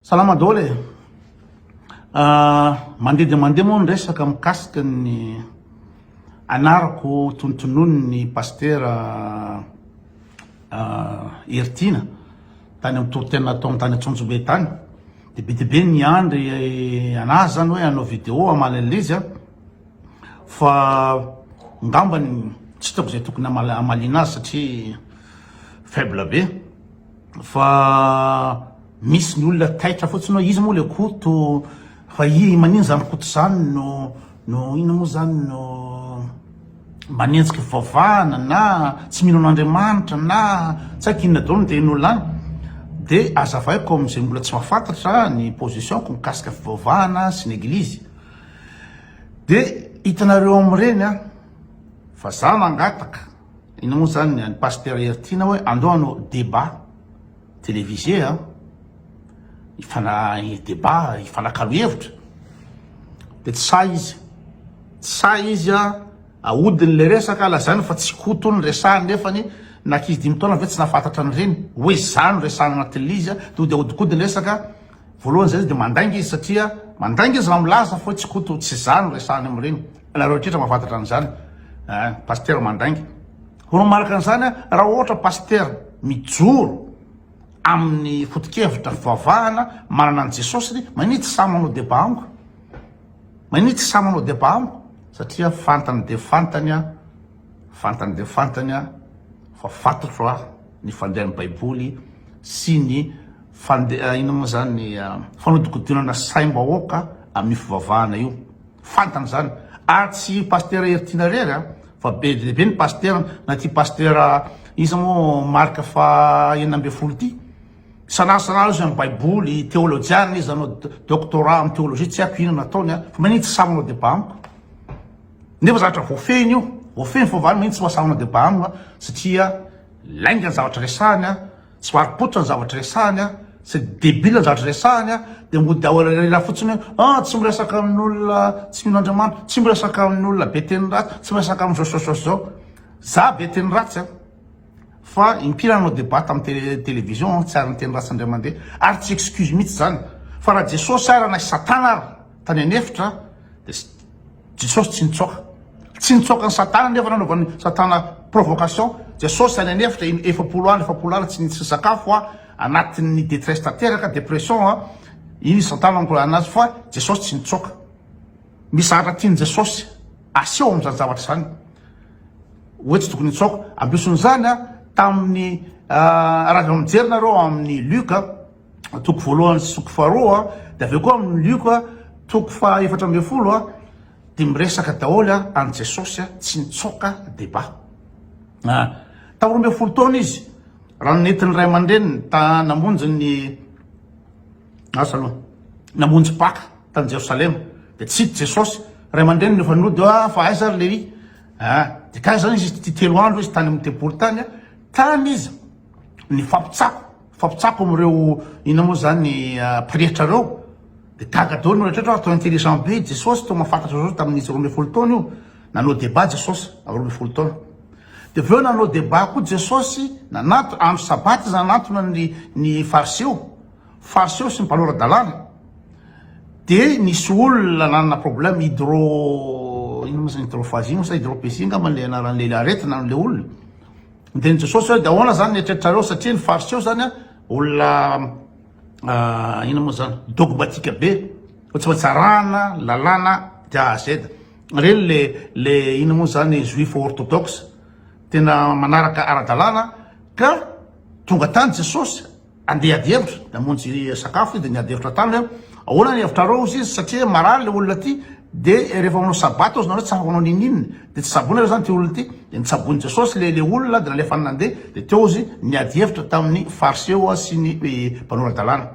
Salama daholo e! Mandeha dia mandeha moa ny resaka mikasika ny anarako tonontonoin'ny Pasitera Heritiana tany amin'ny toritena nataony tany Antsonjombe tany, dia be dia be ny niandry an'azy zany hoe hanao vidéo hamaly an'ilay izy fa ngambany tsy hitako izay tokony hamaliana azy satria faible be. Fa misy ny olona taitra fotsiny hoe izy moa le koto fa i manino zany koto zany no no ino moa zany no manenjika fivavahana na tsy mino an'Andriamanitra na tsy haiko inona daholo ny tehin'olona any de azavaiko amin'izay mbola tsy mahafantatra ny position-ko mikasika fivavahana sy ny eglizy de hitanareo amin'ireny a fa za mangataka Inona moa zany ny Pasteur Hery Tiana hoe andao hanao débat télévisé a, hifana débat, hifanakalo hevitra, de tsy sahy izy, tsy sahy izy a, ahodiny le resaka, lazainy fa tsy Koto no resahiny nefany na ankizy dimy taona ve tsy nahafantatra an'ireny, hoe zany no resahiny anatin'ilay izy a, de hody ahodikodiny resaka, Voalohany izay izy dia mandainga izy satria mandainga izy raha milaza fa tsy Koto tsy za no resahany amin'ireny. Ianareo rehetra mahafantatra an'izany. Ah, pasitera mandainga. Ho manaraka an'izany ah, raha ohatra pasitera mijoro amin'ny foto-kevitra fivavahana manana an'i Jesosy dia mania tsy sahy manao débat amiko. Mania tsy sahy manao débat amiko satria fantany dia fantany ah, fantany dia fantany ah, fa fantatro ah ny fandehan'ny Baiboly sy ny Fande, inona moa izany ny fanodikodinana saim-bahoaka amin'io fivavahana io. Fantany izany. Ary tsy Pasitera Hery Tiana irery an, fa be dia be ny Pasitera, na ity Pasitera iza moa Marc faha enina ambin'ny folo ity. Isan'andro isan'andro izy amin'ny Baiboly, Teolojiana izy, nanao Doctorat amin'ny Teolojia, tsy haiko inona ataony an, fa maninona tsy sahy manao Débat amiko. Nefa zavatra voafehiny io, voafehiny fivavahana, maninona tsy mahasahy manao Débat amiko an, satria lainga ny zavatra resahiny an. Tsy varom-pototra ny zavatra resahany an! C'est débile ny zavatra resahany an! Dia mody ao elaela fotsiny hoe an! Tsy miresaka amin'olona tsy mino Andriamanitra, tsy miresaka amin'olona be teny ratsy, tsy miresaka amin'izao sy izao sy izao. Za be teny ratsy an! Fa impiry aho nanao débat tamin'ny télévision an! Tsy ary niteny ratsy indray mandeha. Ary tsy excuse mihitsy izany. Fa raha Jesosy ary na i Satana ary tany an'efitra dia tsy. Jesosy tsy nitsaoka. Tsy nitsaoka an'i Satana anefa nanaovan'i Satana provocation. Jesosy any an'efitra iny efapolo andro efapolo alina tsy nisakafo a, anatin'ny detresse tanteraka, depression a, iny i Satana nikorana anazy fa Jesosy tsy nitsaoka. Misy zavatra tian'i Jesosy aseho amin'izany zavatra izany hoe tsy tokony hitsaoka. Ambeson'izany a, tamin'ny, raha vao mijery nareo amin'ny Luc, toko voalohany sy toko faharoa dia avy eo koa amin'ny lioka toko faha efatra ambin'ny folo dia miresaka daholo a an'i Jesosy a tsy nitsoaka deba a tamin'ny roa ambin'ny folo taona izy raha nentin'ny ray aman-dreniny ta namonjy ny asa aloha namonjy paka tany Jerosalema dia tsy hita Jesosy ray aman-dreniny efa nody a fa aiza ry Lehi a dia kay zany izy telo andro izy tany amin'ny tempoly tany a tany izy ny fampitsako Fampitsako amin'ireo inona moa izany ny ah, pretra ireo dia gaga daholo ny rehetra atao intelligent be Jesosy toa mahafantatra izao tamin'ny izy roa ambin'ny folo taona io nanao débat Jesosy amin'ny roa ambin'ny folo taona dia avy eo nanao débat koa Jesosy nananto andro sabaty izy nanantona ny ny fariseo fariseo sy ny mpanora-dalàna dia nisy olona nanana problème hydro inona moa izany hydrophagie moa sa hydropésie angamba ilay anaran'ilay aretina an'ilay olona Dia ny Jesosy hoe dia ahoana izany ny eritreritrareo satria ny fariseo izany a olona inona moa izany dogmatika be fa tsy maintsy arahana lalàna de a à z ireny le le inona moa izany juif orthodoxe tena manaraka ara-dalàna ka tonga tany Jesosy Andeha ady hevitra, namonjy sakafo izy dia niady hevitra taminy aho, ahoana ny hevitrareo hozy izy, satria marary le olona ty, dia rehefa manao sabata hozy nareo tsy afaka manao ninin, dia tsy tsaboina ve zany ty olona ty, dia nitsaboin'i Jesosy le le olona dia nalefany nandeha, dia teo izy niady hevitra tamin'ny fariseo sy ny mpanora-dalàna.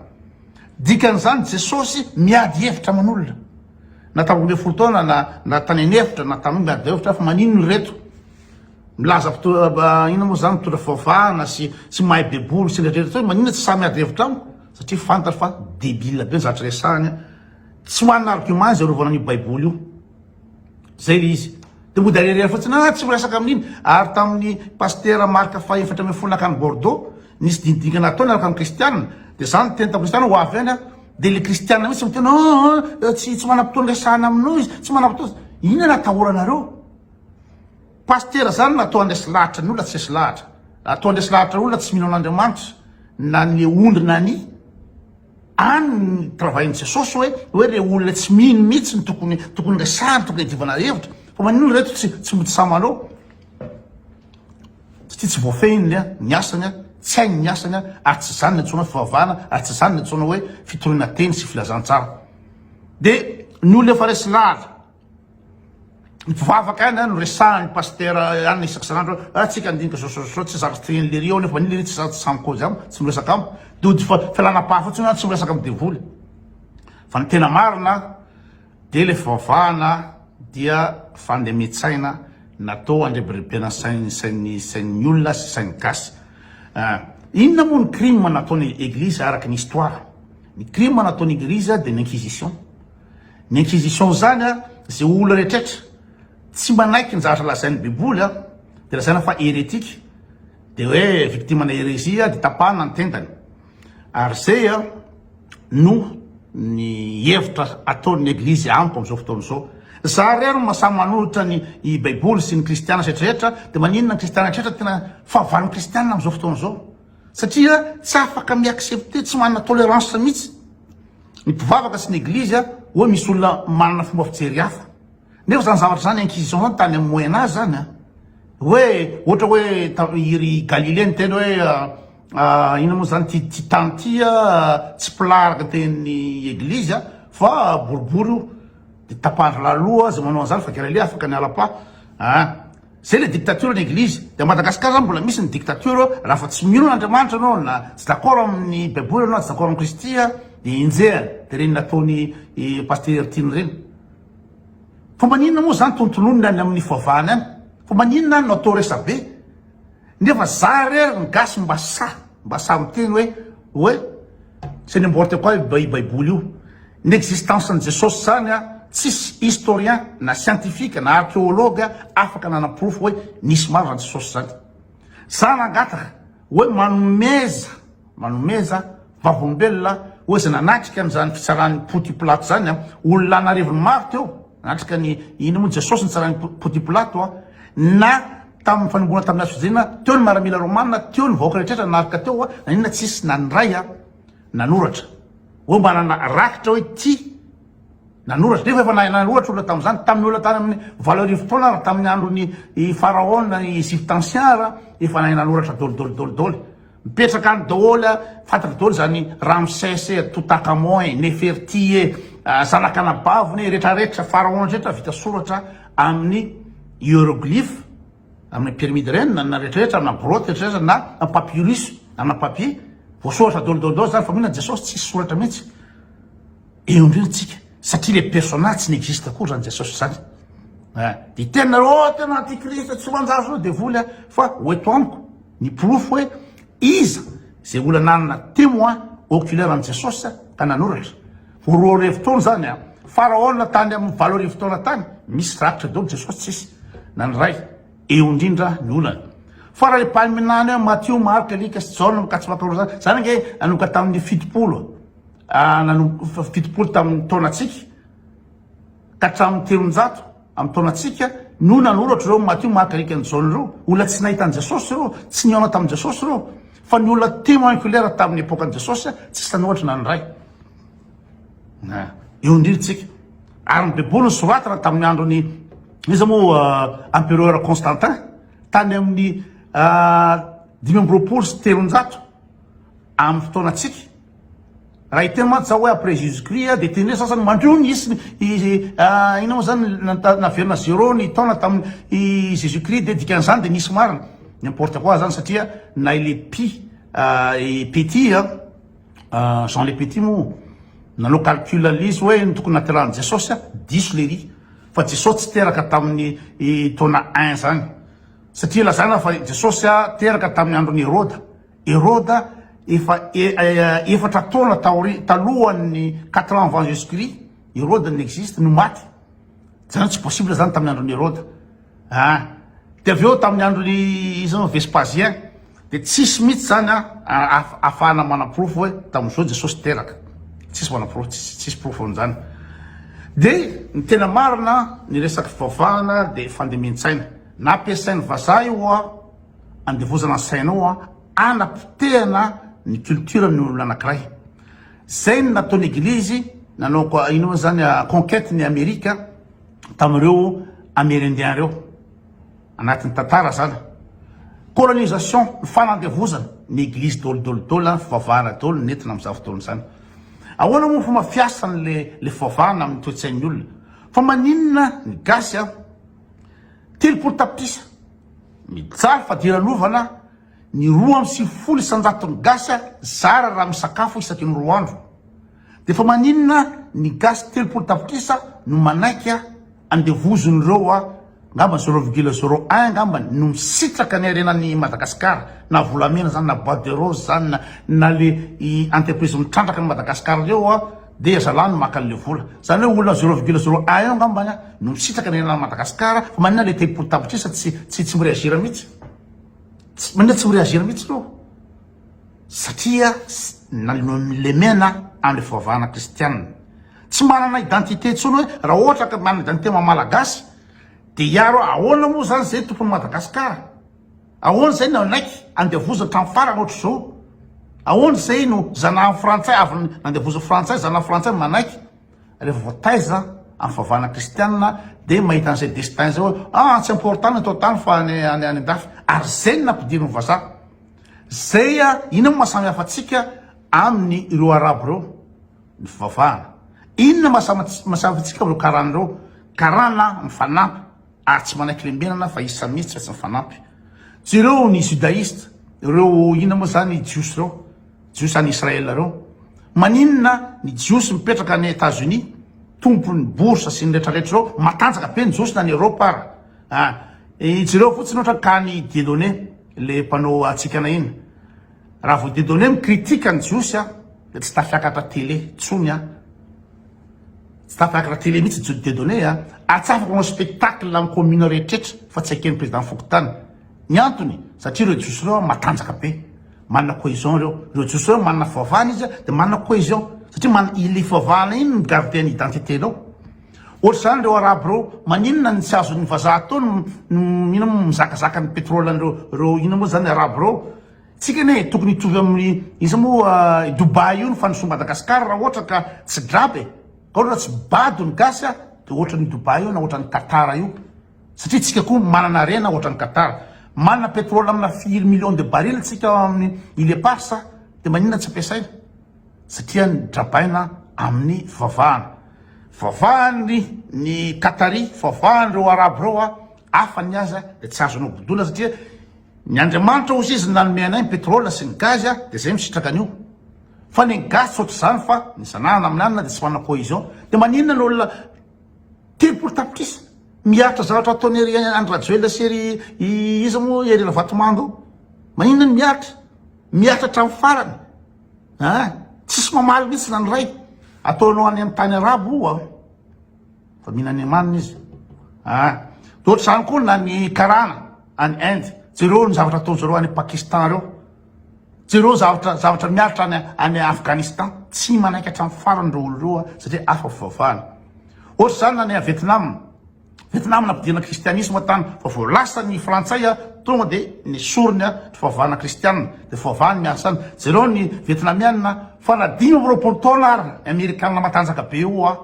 Dikan'izany Jesosy miady hevitra aman'olona, na tamy roa ambin'ny folo taona na na tany an'efitra na tany miady hevitra fa maninona ireto? Milaza mpitondra inona moa zany mpitondra fivavahana sy tsy mahay baiboly sy rehetra rehetra maninona tsy samy miady hevitra amiko satria fantatra fa debile be ny zavatra resahany a tsy manana argument izy arovana an'io baiboly io zay le izy de mody ariariany fotsiny ah tsy miresaka amin'iny ary tamin'ny pasitera marka fahefatra ambin'ny folo nakany bordeaux nisy dingidingana ataony araka ny kristianina de zany teny tamin'ny kristianina ho avy any a de le kristianina mihitsy miteny oh tsy tsy manam-potoana resahana aminao izy tsy manam-potoana inona no atahoranareo Pasitera zany na to andresy lahatra ny olona tsy esy lahatra na to andresy lahatra olona tsy mino an'Andriamanitra na ny ondry na ny any ny travail ny jesosy hoe hoe le olona tsy mino mihitsy ny tokony tokony resahany tokony adivana hevitra fa manino reto tsy tsy mody samalao tsy tia tsy voafehiny le ny asany a tsy hainy ny asany a ary tsy zany ny antsoina hoe fivavahana ary tsy zany ny antsoina hoe fitoriana teny sy filazantsara de ny olona efa resy lahatra Mpivavaka ihany no resahan'ny pasitera ihany isaky isan'andro hoe ah, tsika andinika zao zao zao tsy zaka trin'ny lery ao nefa niliri tsy zaka samy kojy am tsy miresaka am dody fa fialana paha fotsiny hoe tsy miresaka am devoly fa ny tena marina dia le fivavahana dia fandemitsaina natao andrebirebena sain'ny sain'ny sain'ny olona sy sain'ny gasy ah, inona moa ny crime nataon'ny eglizy araka ny histoire ny crime nataon'ny eglizy dia ny inquisition Ny inquisition izany a, ze olona rehetrretra tsy manaiky ny zavatra lazain'ny baiboly a, de lazaina fa heretique, de hoe victime na heresie de tapahana ny tendany, ary zay a no ny hevitra ataon'ny eglizy amiko amzao fotoana izao, za re no maha samy manolotra ny i baiboly sy ny kristiana rehetrrehetra, de maninona ny kristiana rehetrretra tena fahavalon'ny kristiana amzao fotoana izao, satria tsy afaka mi accepter, tsy manana tolerance mihitsy. Ny mpivavaka sy ny eglizy hoy misy olona manana fomba fijery hafa. Nefa zany zavatra zany inquisition tany am moyen age zany a. Hoe ohatra hoe tam iry Galilée niteny hoe inona moa zany ty ty tany ty a tsy plat araka ny tenin'ny eglizy a fa boribory io de tapahindry lahy loha zay manao an'zany fa Galilée afaka niala plat a. Zay le dictature ny eglizy. Dia Madagascar zany mbola misy ny dictature raha fa tsy mino an'Andriamanitra anao na tsy d'accord amin'ny baiboly anao na tsy d'accord amin'i Kristy a dia enjehana dia ireny nataony i Pasteur Hertine ireny. Fa maninona moa zany tontononina any amin'ny foavahana any? Fa maninona no atao resabe? Nefa za rery ny gasy mba sahy mba sahy miteny hoe hoe c'est n'importe quoi io baiboly io ny existence ny jesosy zany a tsisy historien na scientifique na archeologue afaka nanaporofo hoe nisy marina jesosy zany za nangataka hoe manomeza Manomeza vavolombelona ho izay nanatrika an'izany fitsaran'i Pontiplato izany olona an'arivony maro teo. Nanatrika ny inona moa Jesosy nitsaran'i Pontiplato? Na tamin'ny fanombohana tamin'ny hazo fijaliana teo ny maramila romana, teo ny vahoaka rehetra naroka teo, naninona tsy nisy na ny iray nanoratra hoe mba nanana rakitra hoe ity nanoratra? Nefa efa nanoratra olona tamin'izany, tamin'ny olona tany amin'ny valo arivo taona ary tamin'ny andron'i Faraona Egypte ancien ary efa nahay nanoratra dôly dôly dôly dôly. Mipetraka any daholo a, fantatra daholo izany Ramsès e, Toutankhamon e, Neferti e, zanak'anabaviny e, rehetra rehetra, pharaons rehetra vita soratra amin'ny hieroglyphes, amin'ny pyramide ireny na na rehetra rehetra, na grotte rehetra rehetra, na na papyrus, na na papier, voasoratra daholo daholo daholo izany, fa mino an'i Jesosy tsisy soratra mihitsy. Eo indrindra tsika, satria le personnage tsy n'existe akory izany Jesosy izany. Eh, dia hitenona hoe oh tena antikristo tsy manjary izao devoly a, fa ho eto amiko. Ny porofo hoe iza izay olona nanana témoin oculaire an'i Jesosy ka nanoratra. Ho roa arivo taona izany an! Faraona tany amin'ny valo arivo taona tany, misy rakitra daholo, Jesosy tsisy na ny iray. Eo indrindra ny olana. Fa raha ipaminany hoe Matio, Marka, Lika sy Jaona no ka tsy mankahoroa izany, izany ange nanomboka tamin'ny fitopolo, nanomboka fitopolo tamin'ny taonantsika, ka hatramin'ny telonjato amin'ny taonantsika no nanoratra ireo Matio, Marka, Lika, ny Jaona ireo. Olona tsy nahita an'i Jesosy ireo, tsy nihaona tamin'i Jesosy ireo, fa ny olona témoin oculaire tamin'ny epokan'i Jesosy tsisy nanoratra na ny iray. Na, eo indrindra isika. Ary ny Baiboly nosoratana tamin'ny andron'i, iza moa, Empereur Constantin, tany amin'ny dimy amby roapolo sy telonjato amin'ny fotoanantsika, Raha hiteny mantsy za hoe après Jesus Christ dia teny hoe sasany mandrio ny isiny inona moa zany naverina zéro ny taona tamin'ny Jesus Christ dia dikan'izany dia nisy marina n'importe quoi zany satria na ilay pi petit Jean le petit moa nanao calcul an'ilay izy hoe ny tokony nahaterahan'i Jesosy diso lery fa Jesosy tsy teraka tamin'ny taona un zany satria lazana fa Jesosy teraka tamin'ny andron'i Heroda Heroda efa efatra taona taorian talohan'ny quatre ans avant Jesus Christ Heroda n'existe no maty zany tsy possible zany tamin'ny andron'i Heroda ah de avy eo tamin'ny andron'i iza moa Vespasien de tsisy mihitsy zany a ahafahana manaporofo hoe tamin'izao Jesosy teraka tsisy manaporofo tsisy porofo an'izany de ny tena marina ny resaky fivavahana de fandemen-tsaina nampiasain'ny vazaha io a Andevozana ny sainao an, hanapotehana ny culture ny olona anakiray. Zay ny nataon'ny eglizy nanao ino moa zany a conquête ny Amerika tamin'ireo Amerindiens reo. Anatin'ny tantara zany. Colonisation, ny fanandevozana, ny eglizy dôly dôly dôly an, fivavahana dôly nentina amin'izany fotoana izany. Ahoana moa ny fomba fiasany le le fivavahana amin'ny toe-tsain'ny olona? Fa maninona ny gasy an, telopolo tapitrisa, Mijaly fadiranovana ny roa amby sivifolo isanjaton'ny gasy zara raha misakafo isaky ny roa andro. Dia fa maninona ny gasy telopolo tapitrisa no manaiky andevozin'ireo angamba zero virgule zero un angamba no misitraka ny harenan'i Madagasikara na volamena zany na boite de rose zany na le entreprise mitrandraka an'i Madagasikara ireo Dia zalahy no maka anle vola. Zany hoe olona zero virgule zero un eo angambany no misitraka ny anan'i Madagascar fa manina le telopolo tapitrisa tsy tsy tsy mireagir mitsy. Tsy manina tsy mireagir mitsy reo. Satria nalemena amle fivavahana kristiana. Tsy manana identité intsony hoe raha ohatra ka manana identité maha malagasy dia hiaro ahoana moa zany zay tompon'i Madagascar. Ahoana izay no nanaiky andevoziny tamin'ny farany ohatr'izao? Ahoana izay no zanahan'ny frantsay avy nandevozin'ny frantsay, zanahan'ny frantsay manaiky? Rehefa voataiza amin'ny fahavahana kristianina dia mahita an'izay destin izay hoe ah tsy important ny eto an-tany fa ny any an-dafy. Ary izay no nampidirin'ny vazaha. Izay ah, inona no maha samy hafa antsika amin'ny ireo arabo ireo? Ny fivavahana. Inona maha samy hafa antsika amin'ireo karana ireo? Karana mifanampy. ary tsy manaiky lembenana fa isa mihitsy fa tsy mifanampy. Jereo ny judaiste, ireo inona moa zany jiosy ireo, jiosy any Israël ireo. Maninona ny jiosy mipetraka any Etats Unis, tompon'ny bourse sy ny retraretra ireo, matanjaka be ny jiosy na any Europe ara. Ah, jereo fotsiny ohatrany ka any Dieudonné, le mpanao hatsikana iny. Raha vao didy hoe mi-critique ny Jiosy aho dia tsy tafiakatra télé tsony aho. Tsy tafiakatra télé mihitsy Jude Dieudonné a! Atsafako manao spectacle amin'ny commune rehetrretra fa tsy eken'ny président fokontany. Ny antony, satria ireo Jiosy ireo matanjaka be. Manana cohésion ireo. Ireo Jiosy ireo manana fivavahana izy dia manana cohésion. Satria manana, ilay fivavahana iny no mi-garder ny identité-nao. Ohatr'izany ireo arabo ireo maninona no tsy azon'ny vazaha atao ny ino moa mizakazaka ny pétrole an'ireo ireo ino moa zany arabo ireo. Tsika anie e tokony hitovy amin'ny iza moa i Dubaï io ny fandrosoan'i Madagascar raha ohatra ka tsy graba e. Ka ohatra tsy bado ny gasy a de ohatran'i Dubaï io na ohatran'i Qatar io satria tsika koa manana harena ohatran'i Qatar. Manana pétrole amina firy millions de barils tsika ao amin'ny îles éparses de maninona tsy ampiasaina. satria nodrabaina amin'ny fivavahana, fivavahany ny Qatari, fivavahany ireo Arabo ireo a, hafa ny azy a, dia tsy azonao bodoina satria ny Andriamanitra hozy izy nanome anay ny pétrole sy ny gaz a, dia zay misitraka an'io, fa ny an'i gasy tsy ohatr'izany fa ny zanahana amin'ny hanina dia tsy manana cohésion, dia maninona ny olona telopolo tapitrisa miaritra zavatra ataon'iry Andry Rajoelina sy ry iza moa Hery Ravatomanga io, maninona ny miaritra, miaritra hatramin'ny farany, Hein? Tsisy mamaly mihitsy zany ray. Ataonao any amin'ny tany arabo oa. Fa mihina any amaniny izy. Hein? Dia ohatr'izany koa na ny karana any Inde. Jereo ny zavatra ataony zareo any Pakistan reo. Jereo zavatra zavatra miaritra any any Afghanistan. Tsy manaiky hatramin'ny farany reo olo reo satria hafa fivavahana. Ohatr'izany na ny any Vietnam. Vietnam nampidina kristianisma tany fa vao lasa ny frantsay tonga dia nesoriny ny fivavahana kristiana dia fivavahany ny asa any jereo ny vietnamiana fa na dimy amby roapolo taona ary ny amerikana matanjaka be eo a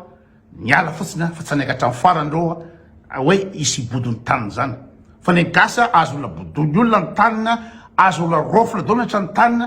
niala fotsiny fa tsy hanaiky hatramin'ny farany ireo a hoe hisy hibodo ny taniny izany fa ny gasy azo olona bodoin'ny olona ny taniny azo olona raofina daholo ny hatrany taniny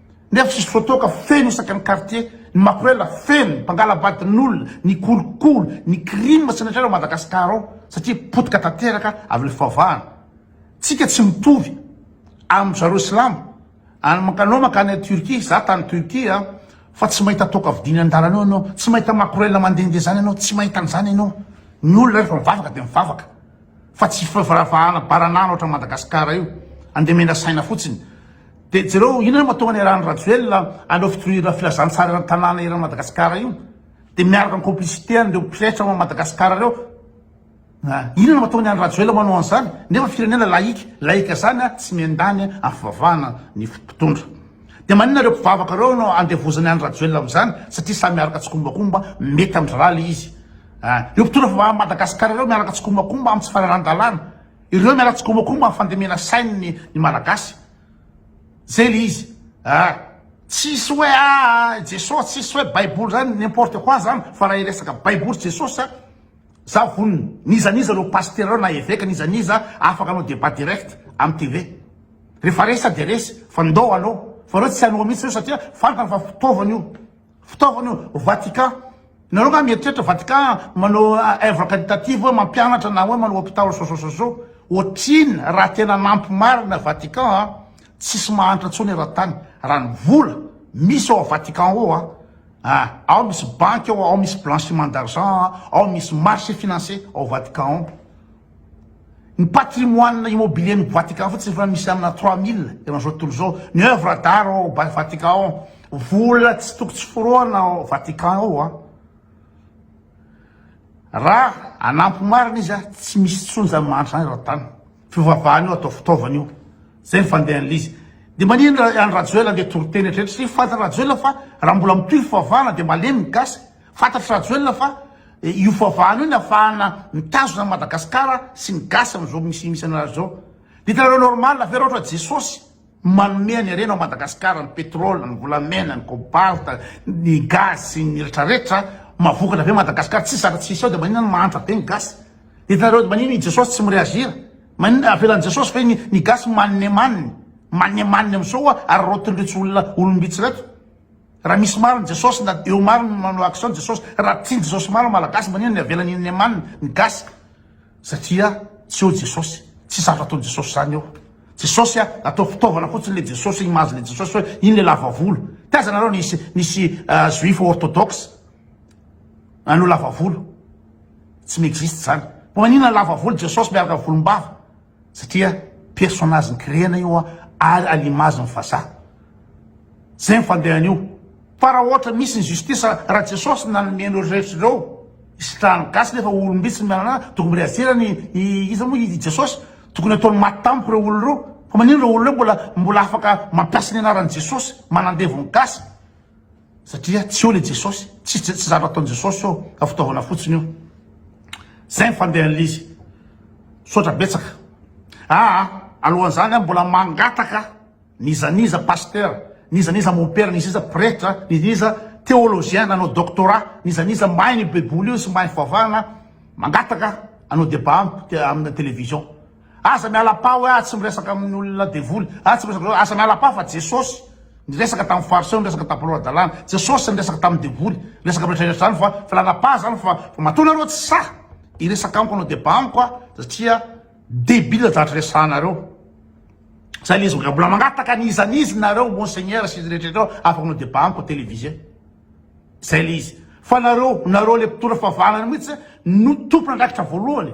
nefa tsisy voatoaka feno isaka ny quartier ny makorela feno mpangalabadin'olona ny kolikoly ny crime tsy netrena ao Madagascar ao satria potika tanteraka avy le fivavahana tsika tsy mitovy amin zareo silamo any makanao makany any Turquie za tany Turquie a fa tsy mahita toaka vidiny andalana eo enao tsy mahita makorela mandendeha zany enao tsy mahita an'zany enao ny olona refa mivavaka de mivavaka fa tsy fivaravahana baran'ano ohatran'i Madagascar io, andeha mena saina fotsiny. Dia jereo inona no mahatonga ny arahan'i Rajoelina aleo fitoriana filazantsara eran'ny tanàna eran'i Madagascar io, dia miaraka amin'ny complicité an'ireo mpirehetra ao Madagascar ireo. Ah, inona no mahatonga ny an'i Rajoelina manao an'izany nefa firenena laïque, laïque izany ah, tsy miandany amin'ny fivavahana ny mpitondra. Dia maninona ireo mpivavaka ireo no andevozan'ny an'i Rajoelina amin'izany satria samy miaraka tsikombakomba, mety amin-dry rally izy. Ireo mpitondra fivavahana amin'i Madagasikara ireo miaraka tsikombakomba amin'ny tsy fanarahan-dalàna. Ireo miaraka tsikombakomba amin'ny fandemena sain'ny ny Malagasy. Zay le izy. Ah, tsisy hoe ah Jesosy, tsisy hoe Baiboly zany n'importe quoi zany fa raha hiresaka Baiboly sy Jesosy ah, za vonona. N'iza n'iza ireo pasitera ireo na eveka n'iza n'iza afaka hanao débat direct amin'ny TV. Rehefa resa dia resy fa ndao aloha. Fa ireo tsy hanoa mihitsy ireo satria fantany fa fitaovana io. Fitaovana io, Vatican. Nareo nga mieritreritra Vatican manao œuvre caritative hoe mampianatra na hoe manao hôpital so so so so. Otrin raha tena nampy marina Vatican a! Tsisy mahantra tsony eran-tany raha ny vola misy ao Vatican ao a! A! Ao misy banky ao, ao misy blanchiment d'argent, ao misy marché financier ao Vatican ao. Ny patrimoine immobilier ny Vatican fotsiny efa misy amina trois mille eo amin'izao tontolo izao, ny oeuvre d'art ao Vatican ao, vola tsy toko tsy forohana ao Vatican ao an! Raha hanampy marina izy an, tsy misy intsony izany mahantra izany eran-tany, fivavahana io atao fitaovana io, izay ny fandehan'ilay izy. Dia maninona i Andry Rajoelina andeha toriteny hatreto, tsy fantany Rajoelina fa raha mbola mitohy fivavahana dia malemy ny gasy, Fantatr'i Rajoelina fa io fahavahana io ny afahana mitazona an'i Madagasikara sy ny gasy amin'izao misy misy anareo zao. Dia hitanareo normal ve raha ohatra Jesosy manome an'i harena ao Madagasikara ny pétrole, ny volamena, ny cobalt, ny gaz sy ny retraretra mavokatra be Madagasikara tsisy zaka tsisy ao dia maninona no mahantra be ny gasy? Dia hitanareo dia maninona i Jesosy tsy mi-reagir? Maninona avelan'i Jesosy ve ny ny gasy mannemanny, mannemanny amin'izao ary raotin'ireto olona olom-bitsy ireto? Raha misy maro ny Jesosy na eo maro ny manao action ny Jesosy raha tsy ny Jesosy maro ny malagasy manino ny avela ny neman ny gasy satria tsy eo Jesosy tsy sarotra ataony Jesosy zany eo Jesosy a atao fitaovana fotsiny le Jesosy image le Jesosy hoe iny le lava volo taiza nareo nisy nisy juifs orthodoxe anao lava volo tsy mi existe zany manina lava volo Jesosy miaraka volombava Satria personnage nikirihana io an ary à l'image ny vazaha. Zay ny fandehany io. Fa raha ohatra misy ny justice raha Jesosy no nanome an'ireo rehetra ireo hisitrahan'ny gasy nefa olom-bitsy no miala an'azy tokony mbola hiajerany iza moa i Jesosy? Tokony ataony maty tampoka ireo olona ireo fa manino ireo olona ireo mbola mbola afaka mampiasa ny anaran'i Jesosy manandevo ny gasy? Satria tsy eo ilay Jesosy, tsy tsy zatra ataon'i Jesosy eo fa fitaovana fotsiny io. Zay ny fandehan'ilay izy. Misaotra betsaka. Aa alohan'izany aho mbola mangataka n'iza n'iza pasteur, n'iza n'iza mompera, n'iza n'iza pretra, n'iza n'iza theologien nanao doctorat, n'iza n'iza mahay an'io baiboly io sy mahay fivavahana, mangataka hanao debat amiko te- amina television. Aza miala pa hoe ah tsy miresaka amin'ny olona devoly ah tsy miresaka aza miala pa fa jesosy niresaka tamin'ny fariseo niresaka tamin'ny mpanao hadalana jesosy niresaka tamin'ny devoly niresaka amin'ny rehetra rehetra zany fa filana pa zany fa fa matoa nareo tsy sahy hiresaka amiko hanao debat amiko ah satria debile zatra resahanareo zay le izy mbola mbola mangataka ny iza n'izy nareo monseigneur sy izy rehetra rehetra eo afaka hanao debat amiko télévisé zay le izy fa nareo nareo le mpitondra fahavalana mihitsy no tompon'andraikitra voalohany